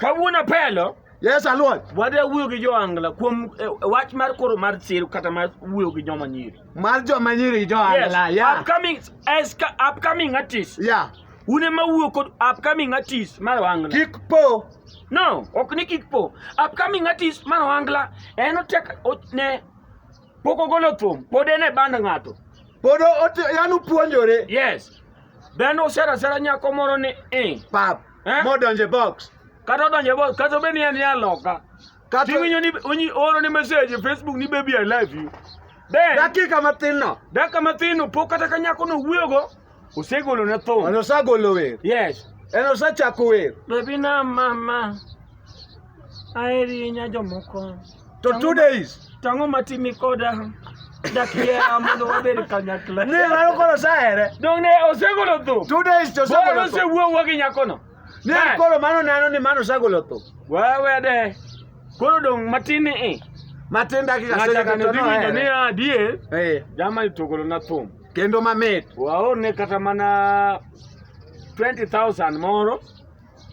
Kawuono apelo. Yes, Alwon. Wadwa wuoyo gi jo Angla kuom eh, wach mar koro mar sir kata mar wuoyo gi joma nyiri. Mar joma nyiri gi jo Angla. Yes. Yeah. Upcoming as upcoming artist. Yeah. Une ma wuo kod upcoming artist mar Angla. Kik po. No, ok ni kik po. Upcoming artist mar Angla en otek ne pok ogolo thum pod en e band ng'ato pod yani opuonjore yes dhano osera sera nyako moro ni i pap eh? modonje box kata odonje box kata obed ni en ya loka kata iwinyo ni onyi oro ni message e facebook ni baby i love you then dakika mathin no dakika mathin no pok kata ka nyako no wuoyogo Osegolo ne thum. An osagolo wer. Yes. En osechako wer. Baby na mama. Aeri nya jomoko. To two days. Tango matimi koda. Dakiera mondo wabed kanyakla. Ne mano koro sahere. Dong ne osegolo thum. Two days to osegolo thum. Bolo osewuowa gi nyakono. Ne koro mano nano ni mano osegolo thum. Wewe de. Koro dong matini i. Matin dakika sejaka to no. Ng'acha kaniwinjo ni adie. Eh. Jama itogolo na thum. kendo mamit. Waone kata mana 20,000 moro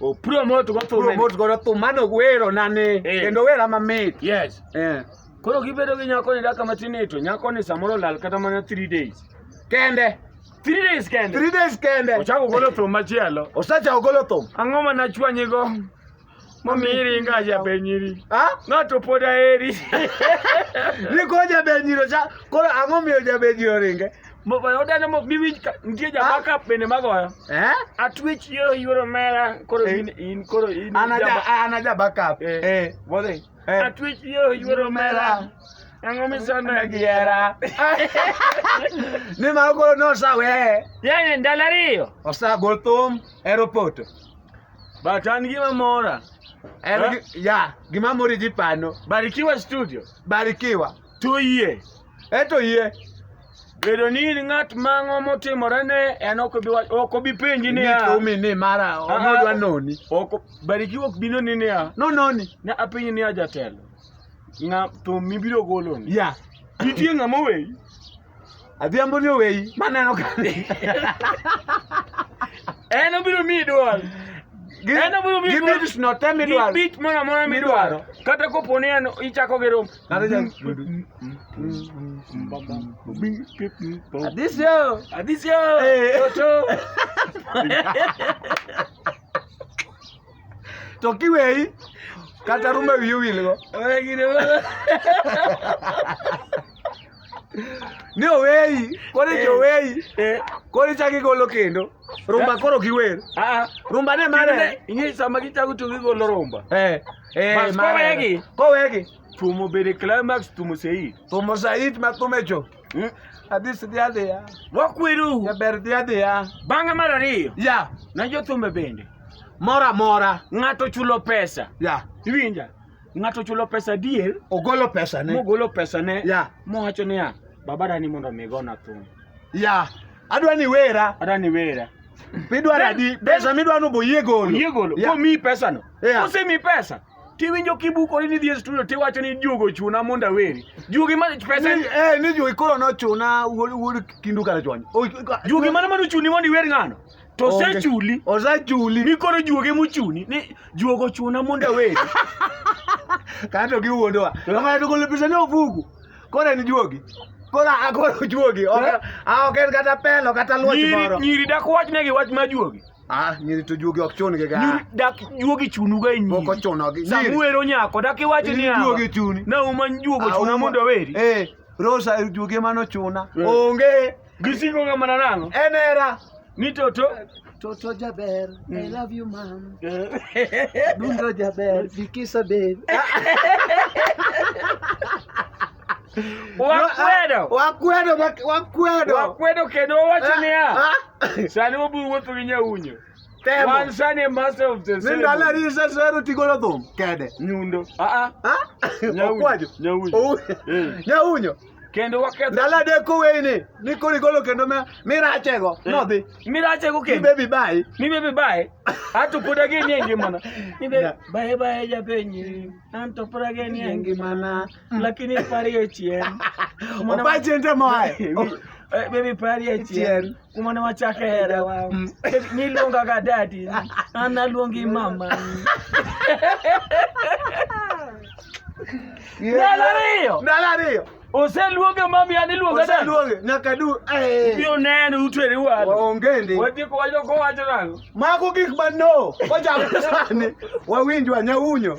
opromote go thum promote go thum mano wero nane eh. kendo wera mamit. Yes. Eh. Koro gibedo gi nyako ni daka matin to nyako ni samoro lal kata mana 3 days. Kende. Three days kende. Three days kende. Ochako golo thum machielo. Osachako golo thum. Ang'o ma nachwanyigo? Momiri ngaji abenyiri. Ha? Ng'ato pod aheri. Ni ko jabenyiro cha. Koro ang'o miyo jabenyiro ringe? Odane mok biwinj ka nitie ja backup bende magoyo. Eh? Atwech yo yuoro mera koro Eh. in in koro in. Ana ja ana ja backup. Eh. Eh, wodhi. Eh. Atwech yo yuoro mera. Ang'o misanda gi hera. Ni ma koro nosawe. Yaani ndalo ariyo. Osagol thum aeroport. But an gima mora. En Huh? gi- ya gima mori ji pano Barikiwa Studio. barikiwa Tuyie. eto yie Bedo ni in ng'at mang'o motimore ne en ok obi wa- ok obi penji niya. nikomi ni mara Ah, onodwa ah. noni Ok o- Barikiwa ok bino ni niya. nononi Ne apenji niya jatelo. Ng'a to mibiro goloni. ya Nitie ng'ama oweyi. Adhiambo ni oweyi maneno ka en obiro miyi dwol En obiro miyi dwol. gibit no te midwaro gibit moro amora midwaro kata kopo ni en ichako gi rom Kata ja- adisio adisio Eh. toto to kiweyi kata rume wiye wilgo Oye, gine- Ni oweyi, koro eh, oweyi. Eh. Koro ichako igolo kendo. Rumba eh. koro giwer. Ah, ah. Rumba ne mane? Ing'e sama gichako to gigolo rumba. Eh. Eh, Mas kowegi. Kowegi. Tumo bede climax tumo sei. Tumo sei ma tumecho. Hmm? Adhi sidhi adhiya. Wakweru. Jaber dhi adhiya. Bang'e mar ariyo. Ya. Na jothumbe bende. Mora mora. Ng'ato chulo pesa. Ya. Iwinja. Ng'ato chulo pesa adier, ogolo pesa ne mogolo pesa ne Yeah. mowacho niya, baba dani mondo mi gona thum. ya adwa ni wera Ada ni wera. midwaro Then- adi pesa midwa ni boyie golo Oyie golo. Yeah. Komiyi pesa no. Yeah. Kosemiyi pesa. Tiwinjo kibukori ni dhi e studio tiwacho ni juogo chuna mondo aweri. Juogi ma pesa Ni- eh, ni jugi koro nochuna wuod wuod kindu kara chwany O- Juogi mana mano chuni mondo iwer ng'ano. To osechuli. Osechuli. Mikoro juoge mochuni. Ni juogo chuna mondo aweri. Kato giwuondowa. Ng'ato golo pesa ne ofuku. Koro en juogi. Koro akoro juogi. Ok ah, en kata pelo kata luoch moro. Nyiri dak wach negi wach ma juogi. Ah, nyiri to juogi ok chun gi ga. Nyiri dak juogi chunu ga e nyiri. Moko chuno gi. Nyiri. Samuero nyako dak iwacho ni awa. Juogi chuni. Na uma juogo ah, chuna mondo aweri. Eh, Rosa juogi mano chuna. Eh. Onge. Gisingoga mana nang'o? En hera. Ni toto. Toto jaber. Mm. I love you mom. Dundo jaber. Bikisa babe. Wakwedo. Wakwedo, wakwedo. Wakwedo kendo wacho ah, niya. Ah. Sani wabiro wuotho gi nyaunyo. Temo. Wan sani master of the ceremony. Nindalo ari sasero tigolo thum kede. Nyundo. Ah ah. Nyauyo. Nyauyo. Nyauyo. kendo waketho ndalo adek koweyini ni koro igolo kendo ma- mirachego nodhi mirachego ni kendo bebi bayi ni bebe bae ato pod ageni e ngimana ni bebe Ya. bae bae japenyi an to pod ageni e ngimana ngimana lakini parie chien Mwana- opache nte moaye Eh, baby parie chien Chien. kumane wachake hera wa mm. niluonga ga dadi an aluongi mama ndalo ariyo ndalo ariyo oseluonge mami an iluonga dadi oseluonge nyaka du eh. biyo neno utweri wadu waonge ndi watieko wacho kowacho nango mago gik ma no wachako sani wawinj wanyaunyo